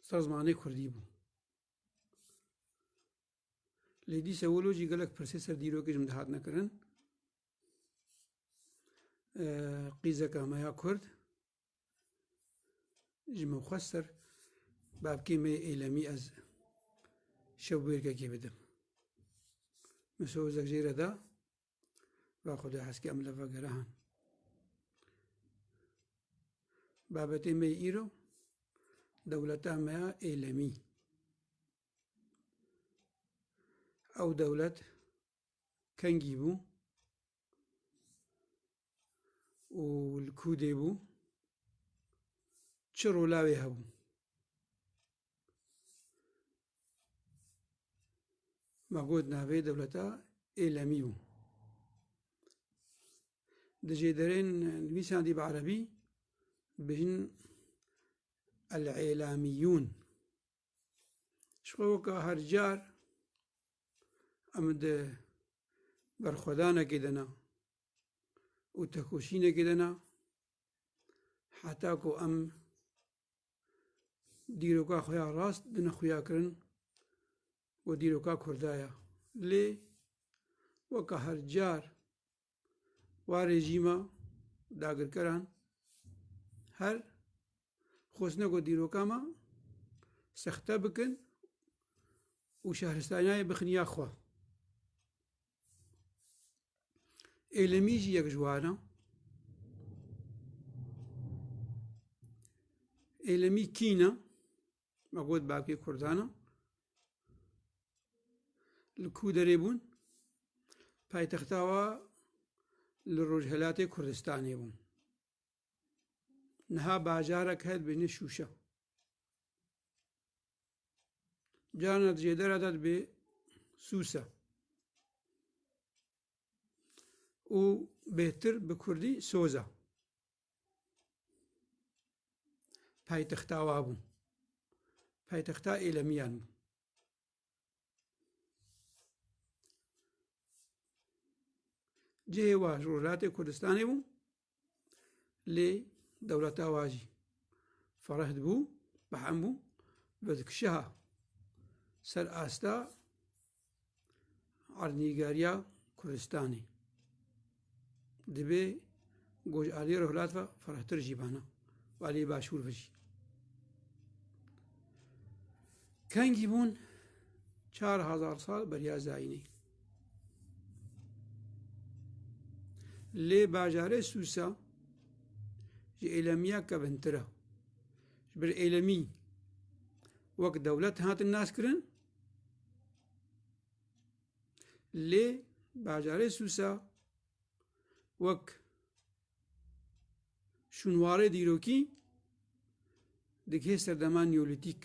li ser zimanê Kurdî bû. Lê dîsa wilo jî gelek pirsê ser dîrokê ji min dihatine kirin. Qîzeka me ya Kurd ji min xwest ser babkê me êlemî ez şew wêrkekê bidim. Mesûd Ozek jê re da Ve Xwedê heskê em li vegerihan. Babetê me îro dewleta me ya êlemî. Ew dewlet kengî bû û li kûdê bû çi rolawê hebû. Ma got navê dewleta Êlemî bû. Di jêderên nivîsan dî bi erebî bi hin el êlamîyûn. Ji xwe weka her car em di berxwedanekê de ne û tekoşînekê de ne heta ku em dîroka xwe ya rast di nexuya kirin û dîroka Kurda ya. Lê weka her car wa rejîma dagirkeran her xwestine ku dîroka me sexte bikin û şehristaniyayê bixin ya xwe. Êlemî jî yek ji wan e. Êlemî kîn e. Me got bavkê Kurdan e. Li ku derê bûn? Paytexta wa li Rojhelatê Kurdistanê bûn. Niha bajarek heye dibêjne Şûşe. Carna di jêdera de dibê Sûse. û bêhtir bi kurdî soza. Paytexta wa bû. Paytexta êlemiyan bû. Cihê wa ji Rojhilatê Kurdistanê bû. lê dewleta wa jî fereh dibû, behm bû, vedikişiha ser asta erdnîgeriya Kurdistanê. Dibê ku ji aliyê rojhilat ve ferehtir jî bana û aliyê başûr ve jî. Kengî bûn çar hezar sal beriya zayînê. Lê bajarê Sûsa ji Êlemiya kevntir e. Ji ber Êlemî wek dewlet hatin naskirin lê bajarê Sûsa wek Şûnwarê dîrokî digihê serdema Neolîtîk.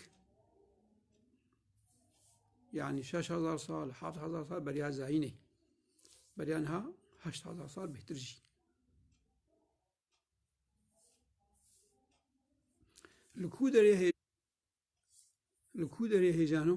Yani şeş hezar sal, heft hezar sal beriya zayînê. Beriya niha heşt hezar sal bêhtir jî. Li ku derê hê li ku derê hêjano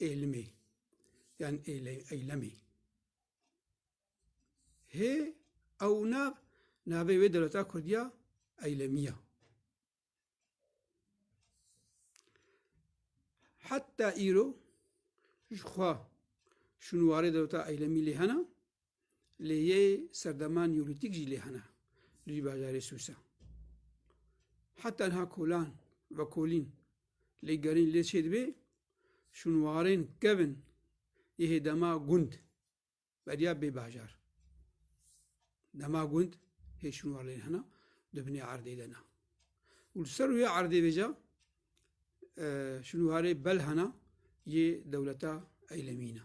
Êlimê yan Eylemê. Hê ew nav navê wê dewleta Kurdiya Eylemiya. Heta îro ji xwe şûnwarê dewleta Eylemî lê hene lê yê serdema Neolîtîk jî lê hene li vî bajarê Sûsa. Heta niha kolan ve kolîn lê gerîn lê çêdibê şûnwarên kevin yê dema gund beriya bê bajar. Dema gund hê şûnwar lê hena di binê erdê de na. Û li ser rûyê erdê vêca şûnwarê bel hena yê dewleta eylemîna.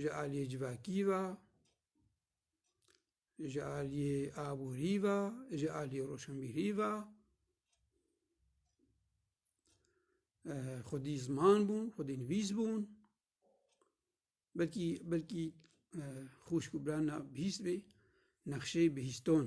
ji aliyê civakî ve, ji aliyê aborî ve, ji aliyê roşenbîrî ve xwedî ziman bûn, xwedî nivîs bûn belkî belkî xwişk û birana bihîst bê nexşeyê bihîston.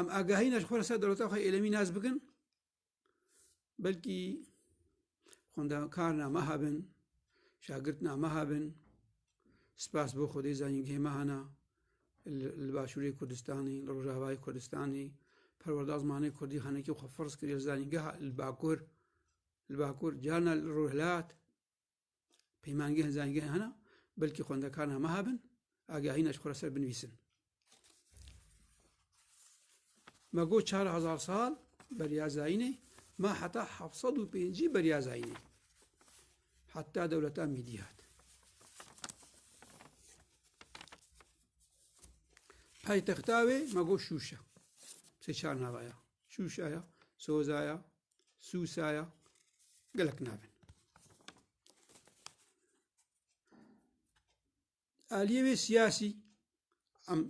Em agahî ne ji xwe re ser dewleta xwe êlemî nas bikin belkî xwendekar na meha bin şagirt na meha bin spas bo xwedê zanîn gihê meha na li başûrê Kurdistanê li rojavayê Kurdistanê perwerda zimanê Kurdî xenekî xwe firz kiriye zanîngeha li bakur li bakur carna li rojhilat Peymangehên zanîngehê hene, belkî xwendekaran hema hebin, agahîna ji xwe re ser binivîsin. Me got çar hezar sal beriya zayînê, me heta heft sed û pêncî beriya zayînê. Heta dewleta Mîdî hat. Paytexta wê me got Şûşa. Sê çar nava ya. Şûşa ya, Soza ya, Sûsaya gelek navin. Aliyê wê siyasî em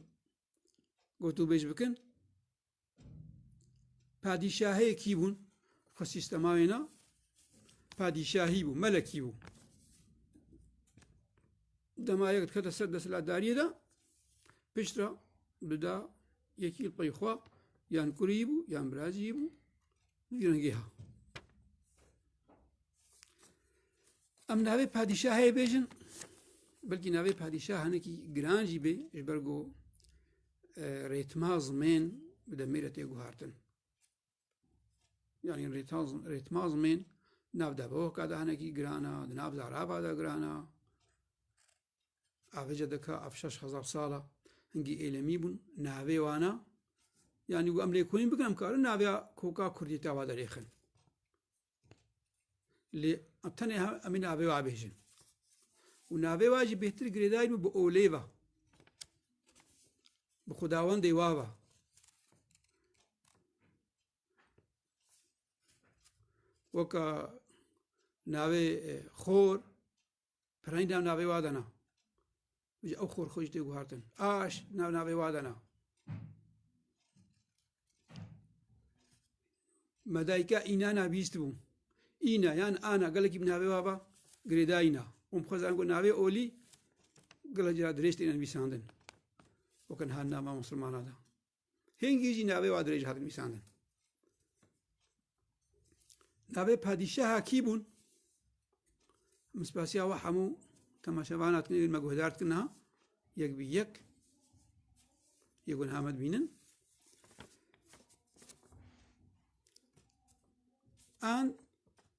gotûbêj bikin padîşahê kî bûn xwe sîstema wê na padîşahî bû melekî bû. Dema yek dikete ser desthilatdariyê de piştre bida yekî pey xwe yan kurî bû yan birazî bû vî rengê ha. Em navê padîşahê bêjin belkî navê padîşah hinekî giran jî bê ji ber ku e, rêtma zimên bi demê re tê guhartin. Yani rêtmazmên nav de bohka de hinekî giran a, di nav zarava de giran a. Avêje dika ev şeş hezar sal a hingî êlemî bûn. Navê wan a. Yanî û em lêkolîn bikin em karin naviya koka Kurdî tava de rêxin. Lê tenê em navê wa bêjin. û navê wa jî bêhtir girêdayî bû bi olê va. Bi xudawendê wa va. Weka navê xor Pirayîn nav navê wa dana. Ji ew xor xwe jî tê guhartin. Aş nav navê wa dana. Medayka înana bîst bû. Îna yan ana gelekî bi navê wa ba girêdayîna. Hûn bixwezan ku navê olî gila cira dirêj têne nivîsandin. Wekin han nama Musulmana da. Hingî jî navê wa dirêj hat nivîsandin. Navê padîşeha kî bûn? Min spasiya wa hemû temaşevan hatin êwî me guhdar dikin niha yek bi yek yê gun hamed bînin. An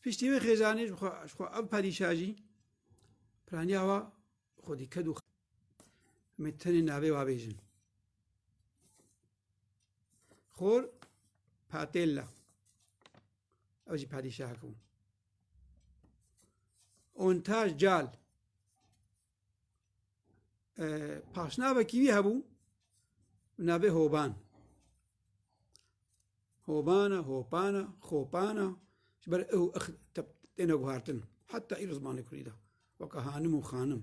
Piştî wê xêzanê ji xwe ji xwe ev padîşa jî piraniya wa xwe dîked û me tenê navê wa bêjin. Xor patêlla ew jî padîşahek bû. Ontaj cal paşnavekî wî hebû navê Hoban. Hobana, hopana, xopana ji ber ew têne guhartin heta îro zimanê Kurdî de weke hanim û xanim.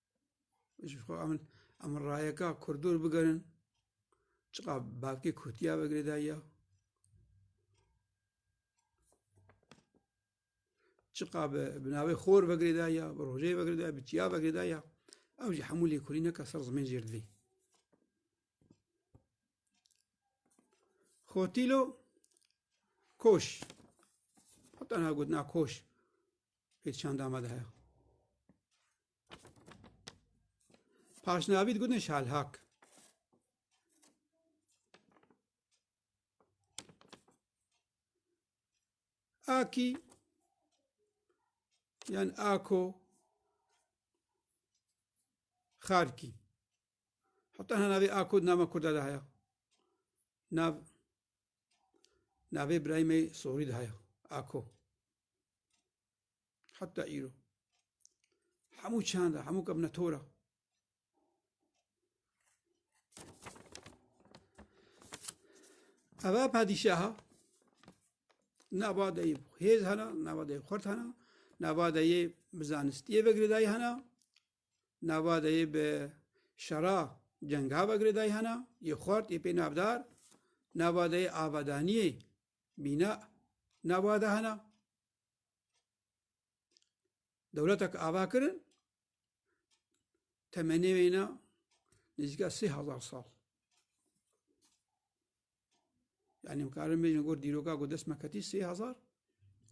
Jixo em em rayeka kurdur bigerin çiqa bavkê kurtiya vegirê dayiya çiqa bi bi navê xor vegirê dayiya bi rojeyê vegirê dayiya bi çiya vegirê dayiya ew jî hemû lêkurî neka ser zimên jêr divê xotîlo koş heta na gotina koş Pê çanda me de heye. Paşnavî digotin şalhak. Aki yan ako Xarkî. Heta hena navê ako nama Kurda de heye. Nav navê birayê me sorî de heye. Ako. Heta îro. Hemû çanda, hemû kevne tora. Eva padîşaha navadeyê hêz hena, navadeyê xurt hena, navadeyê bi zanistiyê vegirêdayî hena, navadeyê bi şera cenga vegirêdayî hena, yê xurt yê pê navdar, navadeyê avadaniyê Mîna nava de hene. Dewletek ava kirin temenê wêne nêzîka sê hezar sal. Yani mkarin bêjin got dîroka ku dest me ketî sê hezar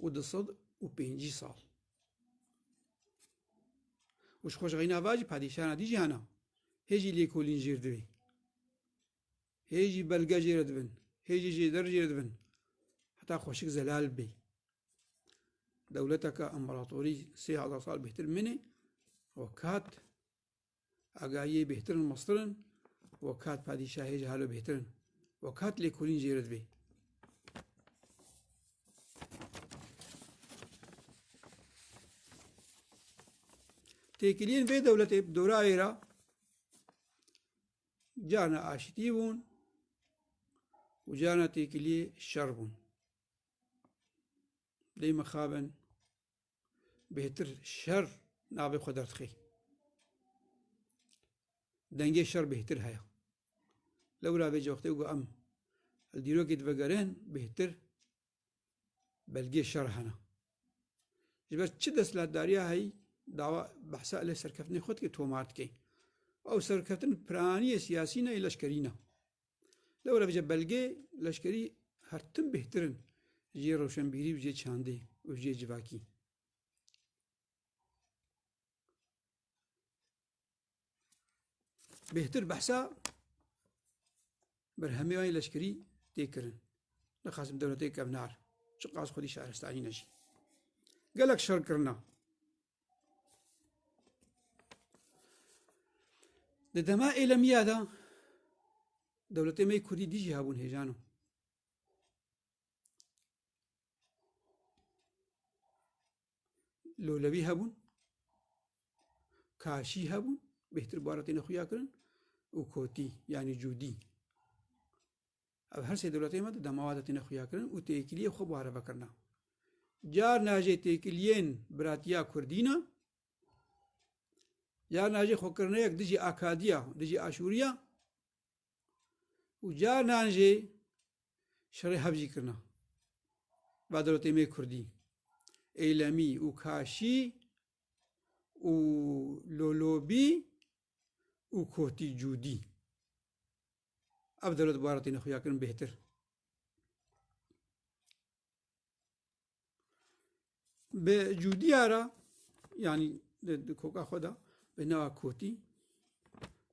û di sed û pêncî sal. Û ji xweşxîna va jî padîşana dî jî hene. Hê jî lêkolîn jêr divê. Hê jî belge jê re dibin, hê jî jêder jê re dibin. Heta xweşik zelal bê. Dewleteke împaratorî sê hezar sal bêhtir minê û kat agayiyê bêhtirin mestirin û kat padîşahê jî halo bêhtirin û kat lêkolîn jê re dibê. Têkiliyên vê dewletê bi dora êra cana aşitî bûn û cana têkiliyê şer bûn. Lê mixabin bêtir şer navê xwe derdixê. Dengê şer bêtir heye. Lewra vê coxtê û em li dîrokê divegerin bêtir belgê şer hene. Ji ber çi destlatdariya heyî dawa behsa lê serkeftinê xwe dike tomar dike. Ew serkeftin piraniyê siyasî ne ê leşkerî ne. Lewre vije belgê leşkerî hertim bêhtir in jê rewşenbîrî û jê çandê û jê civakî. bêhtir behsa berhemêyanê leşkerî tê kirin li Qasim Dewletê kevnar çi qas xwedî şaristanî ne jî gelek şer kirina di dema êlemiya de dewletê me kurdî dî jî hebûn hêjan o lolewî hebûn, kaşî hebûn, bêhtir bara têne xuya kirin û kotî yanî cûdî. Ev her sê dewletê me de demawa de têne xuya kirin û têkiliyê xwe bare vekirina. Car najê têkiliyên biratiya Kurdîna, car najê xwekirneyek dijî akadiya, dijî aşûriya, û carinan jî şerê hev jî kirina. Bedrotêmê Kurdî, Eylemî û Kaşî û Lolobî û Kotî Cûdî. Ev dewlet bara têne xuya kirin bêhtir. Bi cûdiya ra yanî di koka xwe de bi nava Kotî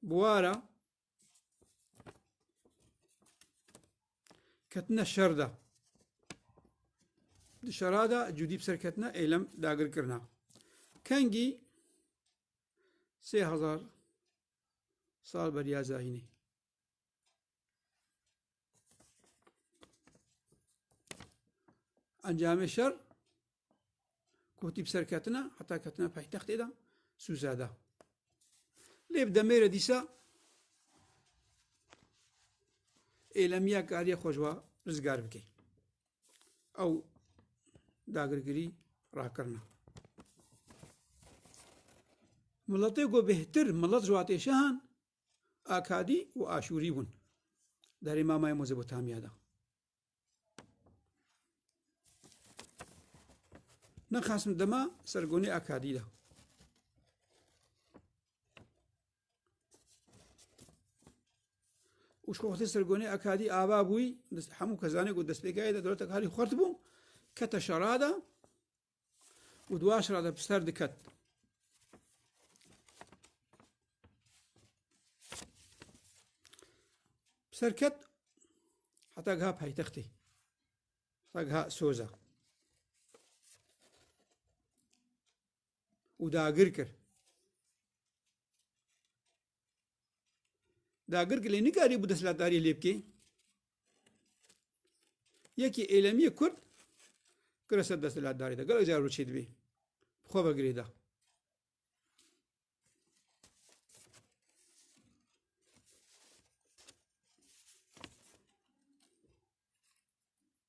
bi wa ra ketine şer de. Di şera de cûdî bi ser ketine êlem dagir kirina. Kengî sê hezar sal beriya zahînê. Encamê şer kotî bi ser ketina heta ketina paytextê de Sûza da. Lê bi demê re dîsa êlemiya kariye xwe ji wa rizgar bike. Ew dagirgirî rakirina. Miletê ku bêhtir milet ji watê şehan Akadî û Aşûrî bûn derê mamayê Mezopotamya de. Min xasm dema sergonê Akadî de. û ji xwe sergonê Akadî ava bûî hemû kezanê ku destpêkayê de dewletek halî xurt bû kete şerada û di waşra de bi ser diket. Bi ser ket heta giha paytextê. Heta giha Soza. û dagir kir. Dagir ki lê nikarî bû desthilatdariyê lê bikê. Yekî êlemiyê Kurd kira ser desthilatdarî de. Gelek car rû çê dibî. Xwe vegirê da.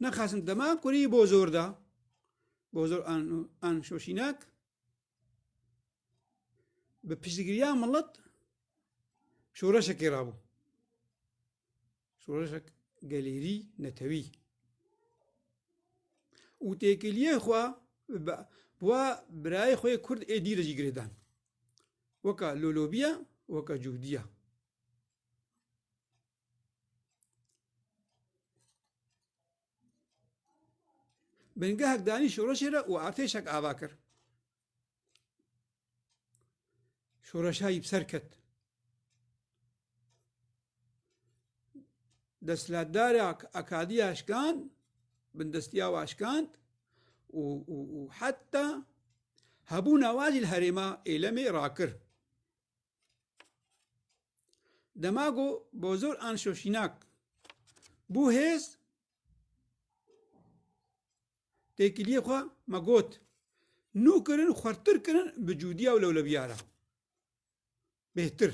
Na xasin dema kurî bozor da. Bozor an an şoşînak bi piştgiriya milet şoreşekê rabû. Şoreşek gelêrî netewî. Û têkiliyê xwe wa birayê xwe Kurd ê dî de jî girêdan. Weka lolobiya, weka cûdiya. Bingehek danî şoreşê re û artêşek ava kir. Şoreşa yî bi ser ket. Desthilatdarê Akadiya şikand, bindestiya wa şikand û heta hebûna wa jî li herêma Êlemê rakir. Demago bozor an şoşînak bû hêz têkiliyê xwe me got nû kirin xwertir kirin bi cûdiya û lewlebiya re bêhtir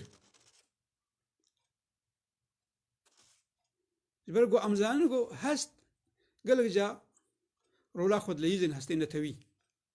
ji ber ku em zanin ku hest gelek ca rola xwedileyîzên hestê netewî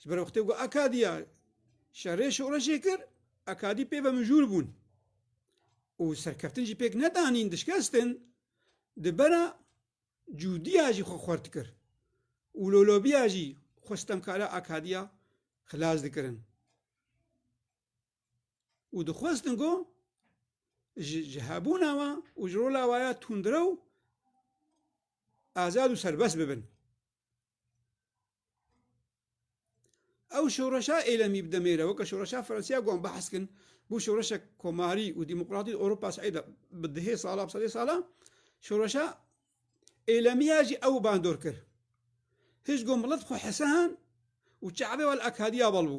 Ji ber wextê ku Akadiya şerê şoreşê kir, Akadî pê ve mijûl bûn û serkeftin jî pêk nedanîn dişkestin, di bera cûdiya jî xwe xwert kir û lolobiya jî xwe sitemkara Akadiya xilas dikirin û dixwestin ku ji hebûna we û ji rola we ya tundrew azad û serbest bibin. ew şoreşa êlemî bi demê re weke şoreşa Fransîya got behs kin bû şoreşek komarî û demokratî Ewropa Seyda bi dihê sala bi sedê sala şoreşa êlemiya jî ew bandor kir. Hişt got milet xwe hesehan û çavê we li Akadiya bal bû.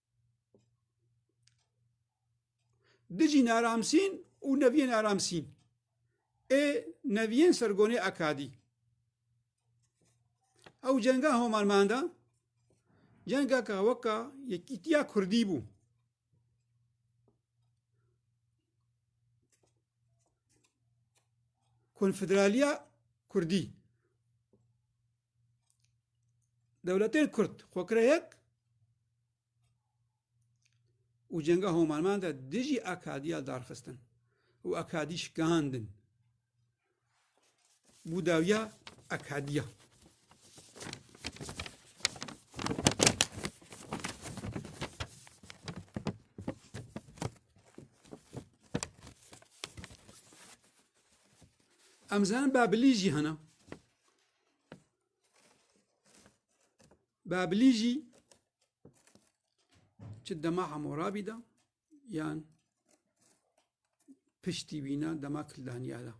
Dijî naramsîn û neviyê naramsîn. Ê neviyên sergonê akadî. Ew cenga homalman de cenga ka weka yekîtiya Kurdî bû. Konfederaliya Kurdî. Dewletên Kurd xwekire yek û cenga Homanman de dijî akadiya darxistin û akadî şikandin bû dawiya akadiya. Em zanin Babilî jî hene. Babilî jî çi dema Hemorabî de yan piştî wîna dema Kildaniya de.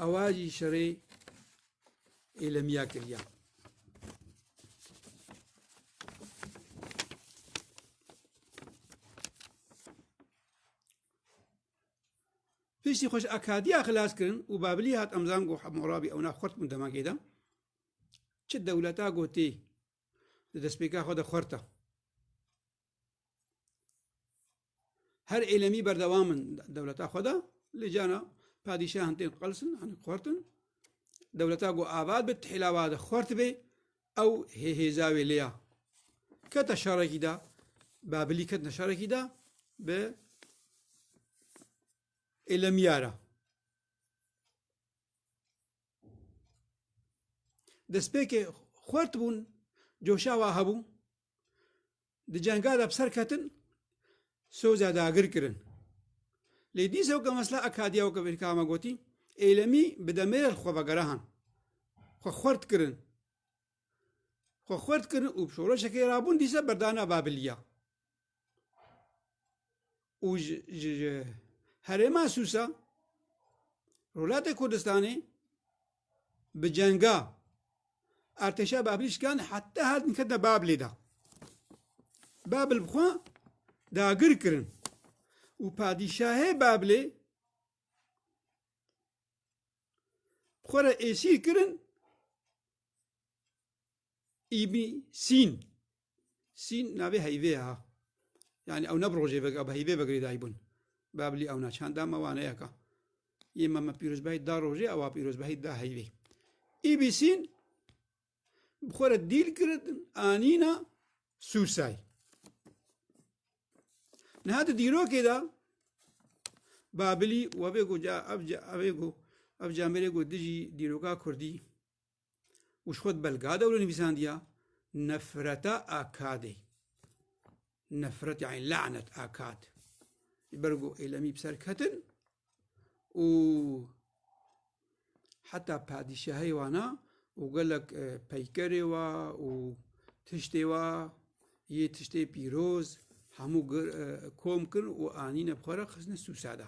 Ewa jî şerê êlemiya kiriya. Piştî xwe ji akadiya xilas kirin û Babilî hat emzan got Hemûrabî ew nav xurt bûn demagê de. Çi dewleta gotî di destpêka xwe de xurt e. Her êlemî berdewam in dewleta xwe de lê cana padîşahan tên qels in an xurt in. Dewleta got avad be tihêla wade xurt bê ew hê hêza wê lêya. Keta şarekî de, Babilî ketina şarekî de bi êlemiya re. Destpêkê xwert bûn, coşa wa hebû. Di cenga de bi ser ketin, Soza dagir kirin. Lê dîsa weke mesela Akadiya weke vêrka me gotî, Êlemî bi demêrê li xwe vegerahan. Xwe xwert kirin. Xwe xwert kirin û bi şoreşekê rabûn dîsa berdana Babilîya. û ji ji herêma Sûsa Rûlatê Kurdistanê bi cenga artêşa Babilî şikand heta hatin ketin Babilê de. Babil bi xwe dagir kirin û padîşahê Babilê xwe re êsîr kirin Îbî Sîn Sîn navê heyvê ha. Yani ew ne bi rojê vek, ew bi heyvê vegirê dayî bûn. Babilî ew na çanda me wane yeka. Yê me me pîrozbahî da rojê, ewa pîrozbahî da heyvê. Îbî Sîn bi xwe re dîl kirin anîna Sûrsay. Niha di dîrokê de Babilî we bê got ca ev ca ev ê got ev camêrê got dijî dîroka Kurdî û ji xwe di Belgada wilo nivîsandiya Nefreta Akadê. Nefret yani lanet akad. Ji ber ku êlemî bi ser ketin û heta padîşahê wana û gelek e, peykerê wa û tiştê wa yê tiştê pîroz hemû e, kom kirin û anîne bi xwe re xistine Sûsada.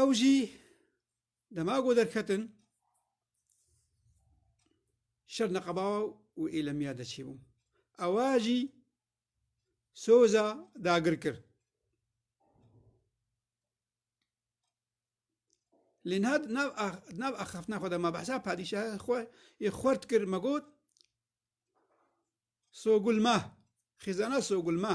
Ew jî dema ku derketin şer neqebawa û êlemiya de çêbûm. Ewa jî soza dagir kir. Lê niha nav axaftina xwe de ma behsa padîşaha xwe yê xwert kir me got Sogulma, xêzana Sogulma.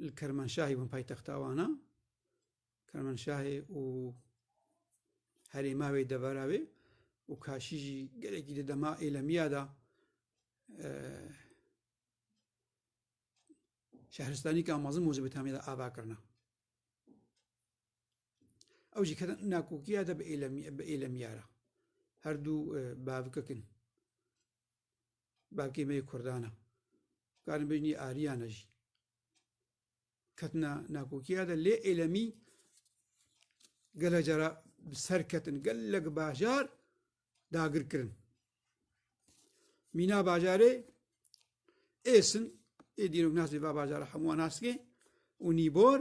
li Kermanşahê bûn paytexta wan a. Kermanşahê û herê me wê devera wê û kaşî jî gelekî di dema êlemiya da e, şehristanî ka mezin Mezopotamya da ava kirina. Ew jî ketin nakokiya de bi êlemiya re. Her du e, bavkikin. Bavkê me yê Kurdan e. Karin bêjin yê Ariyan e jî. Ketina nakokiya de lê êlemî gele cara bi ser ketin. Gelek bajar dagir kirin. Mîna bajarê êsin ê dîrok nasê va bajara hemû naskê û nîbor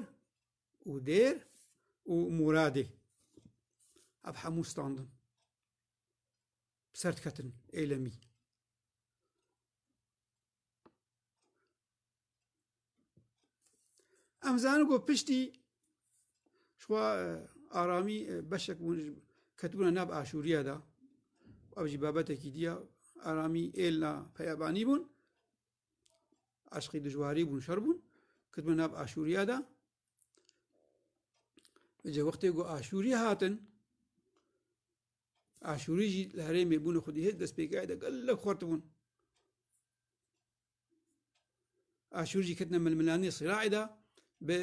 û dêr û muradê. Ev hemû standin. bi ser diketin êlemî. Em zanin ku piştî şwa aramî beşek bûn ketibûna nav aşûriya da ev jî babetekî diya aramî êlna peyabanî bûn aşqî dijwarî bûn şer bûn ketibûna nav aşûriya da Ji wextê ku Aşûrî hatin Aşûrî jî li herêmê bûne xwedî hêz destpêkerdî gelek xurt bûn. Aşûr jî ketine milmilanê Sîraî de bi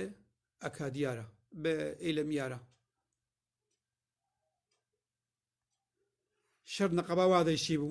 Akadiya re bi Êlemiya re. Şer neqeba wa de jî bû.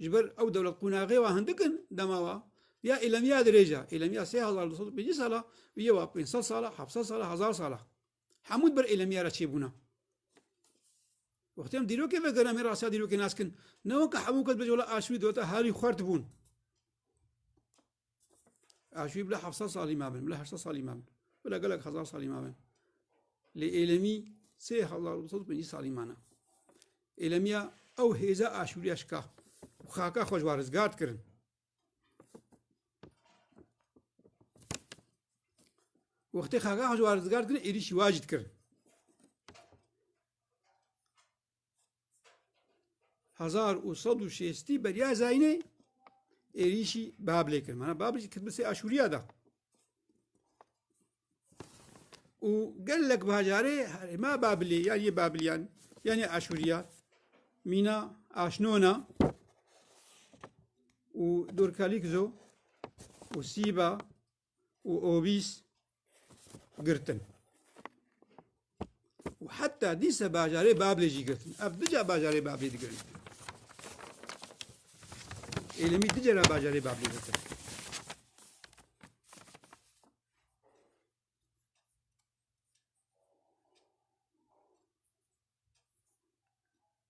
Ji ber ew dewlet qûnaxê wa hindik in dema wa ya îlemiya dirêj e. Îlemiya sê hezar du sed û pêncî sala û yê wa pênc sed sala, heft sed sala, hezar sala. Hemû ber îlemiya re çêbûna. Wextê em dîrokê vekirin em ê rastiya dîrokê nas kin. Ne weke hemû kes bêje wela aşûrî dewleta herî xwert bûn. Aşî bila hevsa salî mabin, bila hevsa salî mabin. Bila gelek hezar salî mabin. Lê êlemî sê hezar û sed pêncî salî mana. Êlemiya ew hêza aşûriya şika. Xaka xwe ji wa rizgar dikirin. Wextê xaka xwe ji wa rizgar dikirin, êrîşî wa jî dikirin. hezar û sed û şêstî beriya Zeynê êrîşî Babilê kir. Mana Babil jî Kidmisê Aşûriya da. û gelek bajarê herêma Babilê yan yê Babiliyan yan yê Aşûriya mîna aşnona û dorkalîk zo û sîba û obîs girtin. û heta dîse bajarê Bablê jî girtin. Ev duca bajarê Bablê digirin. Êlimî du cara bajarê Bablê girtin.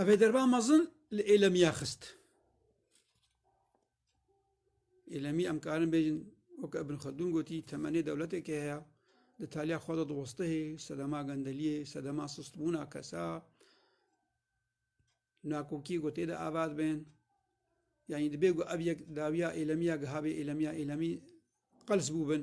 Ev ê derba mezin li êlemiya xist. Êlemî em karin bêjin weke Ibn Xeldûn gotî temenê dewletekê heye di taliya xwe de diwestihê sedema gendeliyê, sedema sistbûna kesa nakokî ku tê de avat bên yanî dibê ku ev yek dawiya êlemiya gihabê êlemiya êlemî qels bûbin.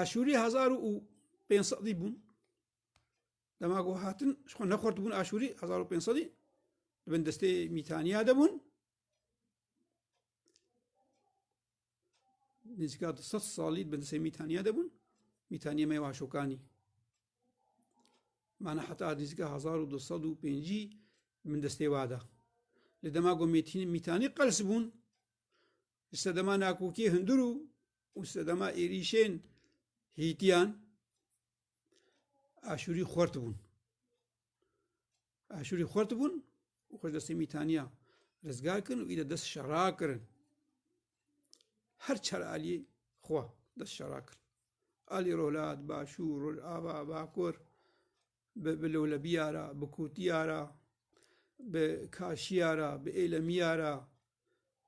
Aşûrî hezar û pênc sedî bûn dema ku hatin ji xwe nexwartibûn aşûrî hezar û pênc sedî di bin destê mîtaniya de bûn nêzîka di sed salî di bindsê Mîtaniya de bûn. Mîtaniya me Waşokanî. Mana heta nêzîka hezar û du sed û pêncî min destê wa da. Li dema ku Mîtanî qels bûn, li sedema nakokiyê hundir û û sedema êrîşên hîtiyan Aşûrî xwert bûn. Aşûrî xurt bûn û xwe ji destê Mîtaniya rizgar kirin û î de dest şera kirin. Her çar aliyê xwe dest şera kir. Alî Rohlat, Başû, Rojava, Bakur, bi Lewlebiya ra, bi Kûtiya ra, bi Kaşiya ra, bi Êlemiya ra,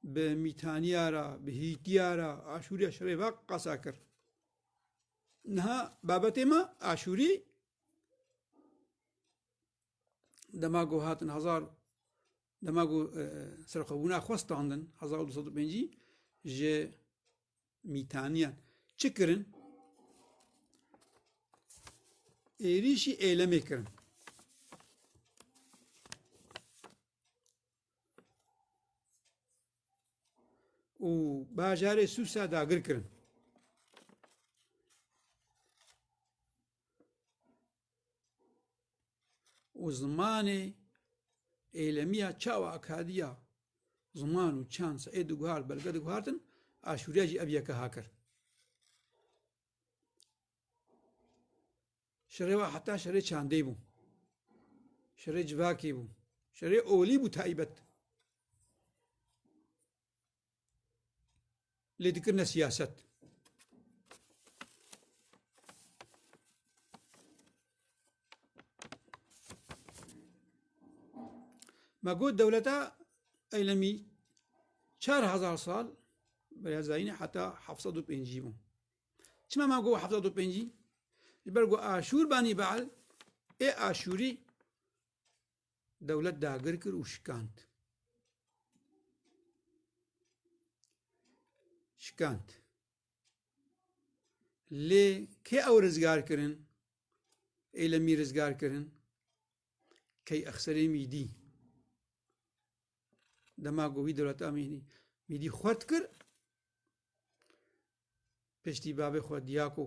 bi Mîtaniya ra, bi Hîtiya ra, Aşûriya şerê ve qasa kir. Niha babetê me Aşûrî dema ku hatin hezar dema ku e, serxwebûna xwe standin hezar û du sed û pêncî ji mîtaniyan çi kirin êrîşî êlemê kirin û bajarê sûsa dagir kirin û zimanê êlemiya çawa akadiya ziman û çand ê diguhar belge diguhartin aşûriya jî ev yeke hakir. Şerê wa heta şerê çandê bû. Şerê civakê bû. Şerê olî bû taybet. lê dikirine siyaset. Me got dewleta eylemî çar hezar sal berezayîne heta heft û pêncî bû. Çima me got heft û pêncî? Ji ber ku Aşûr banî beal ê Aşûrî dewlet dagir kir û şikand. Şikand. Lê kê ew rizgar kirin? Ê li mî rizgar kirin? Key exserê mîdî. Dema ku wî dewleta mîdî mîdî xwert kir, piştî bavê xwe Diyako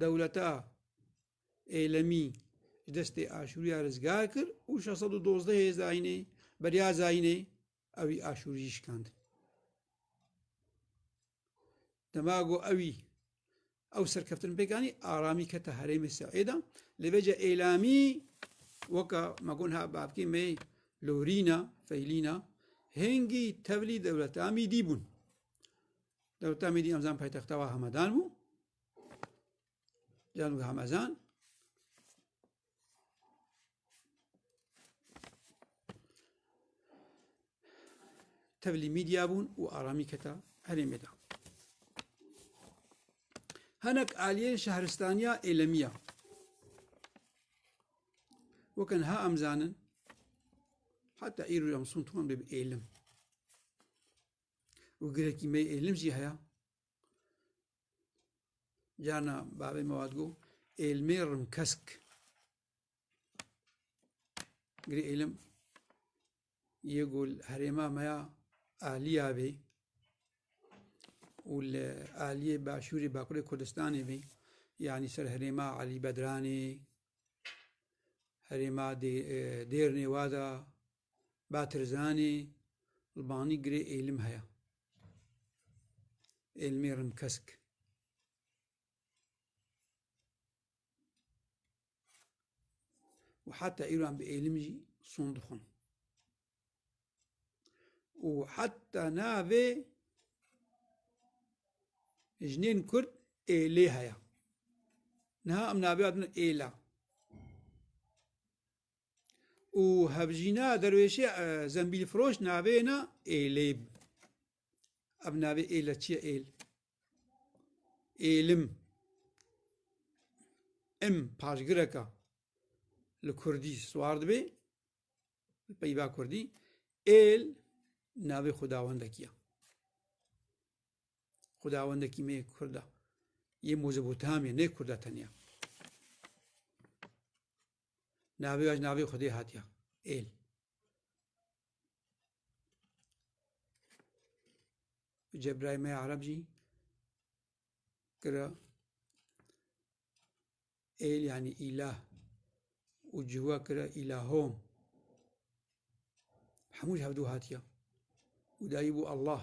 dewleta êlemî ji destê Aşûriya rizgar kir û şeş sed û dozdeh ê zayînê beriya zayînê ewî Aşûrî jî şikandin. Dema got ewî ew serkeftin pêkanî aramî kete herêmê Seêda lê veca êlamî weka me got ha bavkê me lorîna feylîna hêngî tevlî dewleta mîdî bûn. Dewleta Mîdî hemzan paytexta wa Hamedan bû. Canû Hamezan. Tevlî Mîdya bûn û aramî keta herêmê de. Hinek aliyên şehristaniya êlemiya. Wekin ha em zanin heta îro em sun tuwan bê bi êlim. û girêkî me êlim jî heye carna bavê me wat got êlimê rimkesk girê êlim yê ku li herêma me ya aliya bê û li aliyê başûrê bakurê kurdistanê bê yanî ser herêma elî bedranê herêma dêrnê wada Batirzanê li Banî girê Êlim heye. Êlimê Rimkesk. û heta îro em bi êlim jî son dixwin. û heta navê jinên Kurd êlê heye. Niha em navê adin êla. û hevjîna derwêşê e, zembîlfiroş navê na êlê. Ev navê êle çi ye êl? Êlim. Em paşgireka li Kurdî swar dibê, li peyva Kurdî, êl navê xudawendekî ye. Xudawendekî me Kurd e. Yê Mezopotamya, ne Kurd e tenya. Navê waj navê Xwedê hatiye. Êl. Cebraîl me Arab jî kira êl yanî îlah û ciwa kira îlahom. Hemû ji hevdû hatiye. Û dayî bû Allah.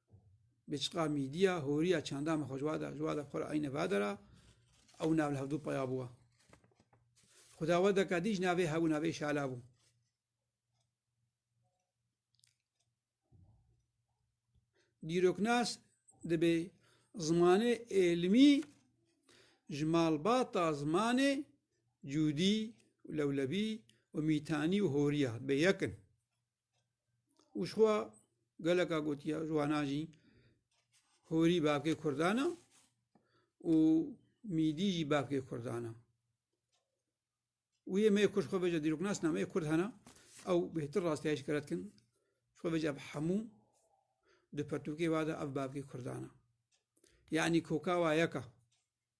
Biçiqa mîdîya horiya çanda me xwe ji wa da, ji wa da xwe eyne va dera ew nav li hevdû peya bû wa. Xuda we deka dî ji navê hebû navê şala bû. Dîroknas dibê zimanê êlimî ji malbata zimanê cûdî û lewlebî û mîtanî û horiya bê yekin. û jixwe geleka gotiya ji wana jî horî bavkê Kurdan e û mîdî jî bavkê Kurdan e. û yê me ku ji xwe veca dîroknasna me Kurd hene ew bêhtir rastiyayî ji kere dikin ji xwe veca bi hemû di pertûkê ve de ev bavkê Kurdan e. Yanî koka wa yek e.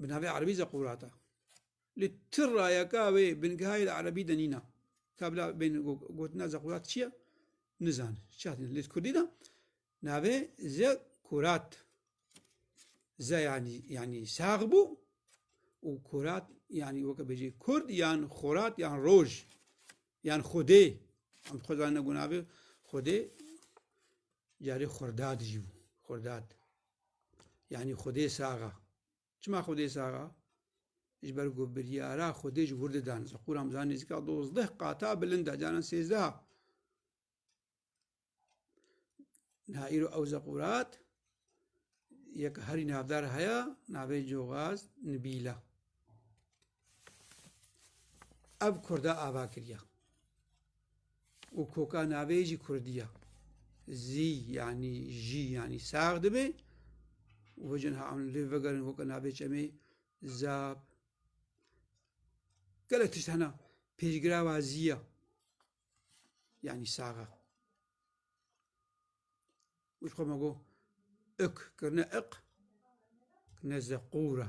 bi navê Erebî Zeqûrata. Lê ti rayeka wê bingehayê li Erebî de nîna. Ka bila bên gotina Zeqûrat çi ye? Nizan. Çi hatine? Lê Kurdî de navê Zeqûrat. Ze yanî yanî sax bû û kurat yanî weke bêjî Kurd yan xorat yan roj yan xwedê. Em xwe zanîne gunavê xwedê carê xwerdad jî bû. Xwerdad. yanî Xwedê saxa. Çima Xwedê saxa? Ji ber ku biryara Xwedê ji wir didan. Zeqûr Hamzan nêzîka dozdeh qata bilind e, canan sêzdeha. Niha îro ew zeqûrat yek herî navdar heye navê Cogaz Nibîla. ev Kurda ava kiriya û koka navê jî Kurdiya zî yanî jî yanî sax dibê û vijin ha em lê vegerin koka navê çemê zab gelek tişt hena pêşgira wa zîya yanî saxa û xwe me got ik kirine iq kirine zeqûra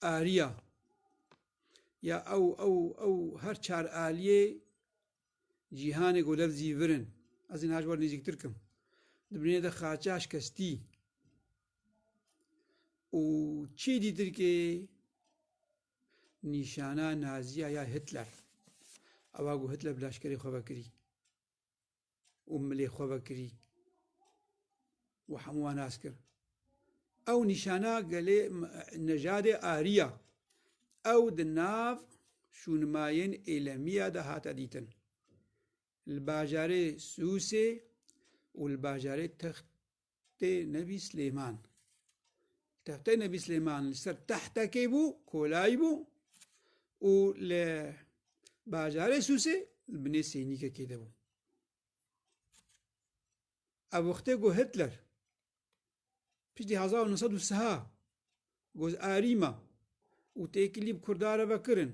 Arya ya ew ew ew her çar aliyê cîhanê golev zîvirin. Ez ê naj war nêzîktir kim. Di binê de xaça şkestî û çî dîtirkê nîşana naziya ya Hitler. Ewa ku Hitler bi leşkerê xwe vekirî. û milê xwe vekirî û hemû wan nas kir. Ew nîşana gelê nejadê Ariya. Ew di nav şûnmayên Êlemiya de hate dîtin. Li bajarê Sûsê û li bajarê Text Tehtê Nebî Silêman. Tehtê Nebî Silêman li ser tehtekê bû, kolayî bû û li bajarê Sûsê li binê seynîkekê de bû. Ev wextê ku Hitler piştî hezar û neh sed û siha Goz arî ma û têkilî bi Kurda re ve kirin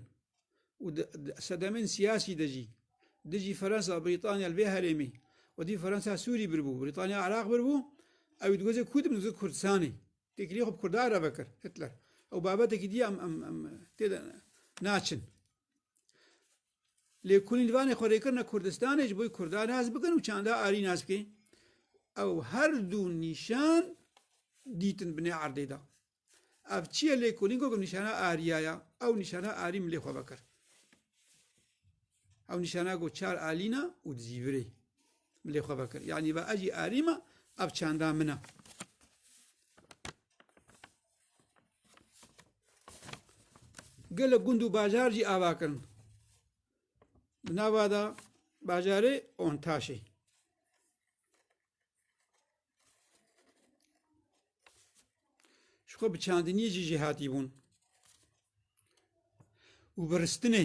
û di sedemên siyasî de jî dijî Fransa, Brîtanya li vê herêmê wetî Fransa Sûrî birbû, Brîtanya Iraq birbû, ewî di gozê Kûd min di Kurdistanê têkilî xwe bi Kurda re ve kir Hitler. Ew babetekî dî em tê de naçin. Lê ku lîvanê xwe rêkirina Kurdistanê ji bo ku Kurdan nas bikin û çanda arî nas bike, ew her du nîşan dîtin binê erdê de. Ev çi ye lêkolîn ku nîşana ariya ya? Ew nîşana arî milê xwe vekir. Ew nîşana ku çar alîna û di zîvirê milê xwe vekir. Yanî va ez jî arî me, ev çanda min e. Gelo gund û bajar jî ava kirin. Bi nava da bajarê Ontaşê. Ji xwe bi çandiniyê jî jêhatî bûn û bi ristinê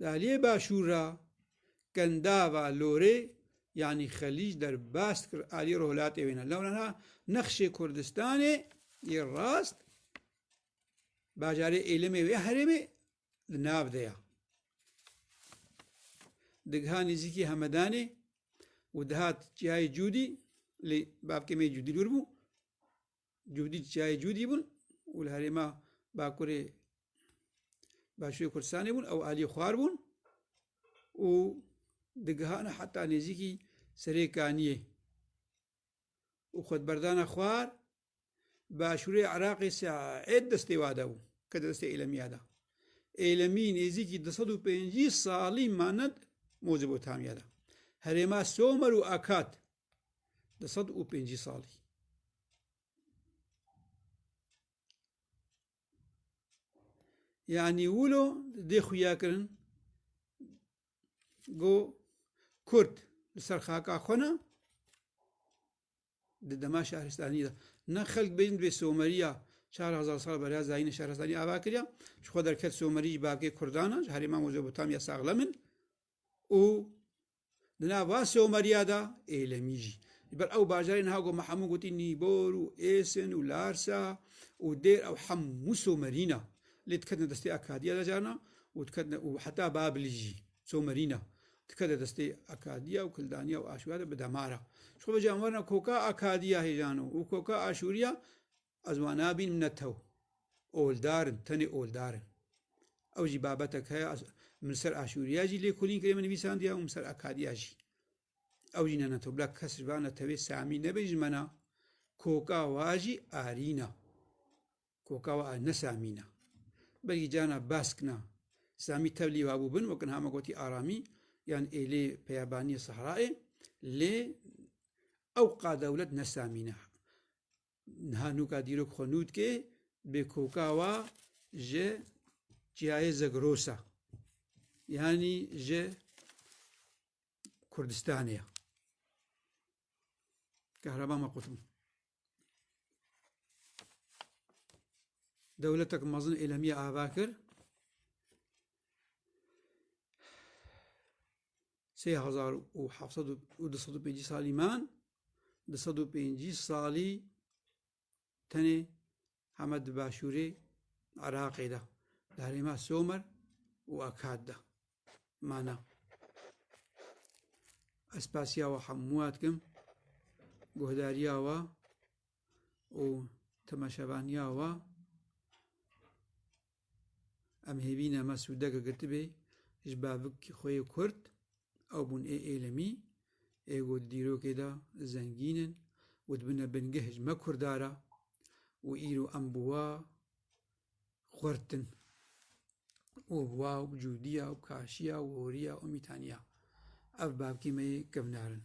Di aliyê başûr ra Kendava Lorê yanî Xelîc derbas kir aliyê rojhilatê wê ne. Lewra na nexşê Kurdistanê yê rast bajarê Êlimê wê herêmê di nav de ya. Digiha nêzîkî Hemedanê û dihat cihayê Cûdî lê bavkê mê Cûdî lûr bû Cûdî çiyayê Cûdî bûn û li herêma Bakurê Başûrê Kurdistanê bûn ew aliyê xwar bûn û digihana heta nêzîkî serê Kaniyê û xwedberdana xwar Başûrê Iraqê Seed destê wada bû ke di destê Êlemiya da. Êlemî nêzîkî di sed û pêncî salî maned Mozebotamiya da. Herêma Somer û Akat di sed û pêncî salî. Yanî wilo dê xuya kirin go Kurd li ser xaka xwe ne di dema şaristanî de ne xelk bêjin divê Someriya çar hezar sal beriya zayînê şaristanî ava kiriya ji xwe derket Somerî ji bakê Kurdan e ji herêma Mezopotamya saxlem in û Di nav van Sewmeriya de Êlemî jî. Ji ber ew bajarên ha ku me hemû gotî Nîbor û Êsin û Larsa û Dêr ew hemû Somerî ne. Lê diketine destê Akadiya de carna û diketine û heta Babilî jî Somerî ne. Dikete destê Akadiya û Kildaniya û Aşûriya de bi demar e. Ji xwe ve jî em werine koka Akadiya hêjano û koka Aşûriya Ez wan nabînim ne tew. Oldar in, tenê oldar in. Ew jî babetek heye min ser aşûriya jî lêkolîn kirê min nivîsandiya û min ser akadiya jî. Ew jî ne ne tew. Bila kes ji van re tevê Samî nebe ji mena. Koka wa jî arîna. Koka wa ne Samîna. Belkî cana baskna. Samî tevlî wa bû bin wek niha me gotî aramî yan êlê peyabaniyê sehraê lê ew qadewlet ne Samîna. niha nûka dîrok xwe nû dikê bê koka wa ji çiyayê Zegrosa yanî ji Kurdistanê ya. Kehreba me qutim. Dewletek mezin êlemiye ava kir. sê hezar û heft sed û du sed û pêncî salî man du sed û pêncî salî tenê heme di başûrê Iraqê de di herêma Somer û Akad de mana ez pasiya we hemûa dikim guhdariya we û temeşevaniya we Em hêvîne me sûdeke girtibê ji bavik xwe yê Kurd, ew bûn ê êlemî, ê ku di dîrokê de zengîn in û dibine bingeh ji me Kurda re û îro em bi we xurt in û bi we cûdiya û kaşiya û horiya û mîtaniya ev bavkê me yê kevnar in.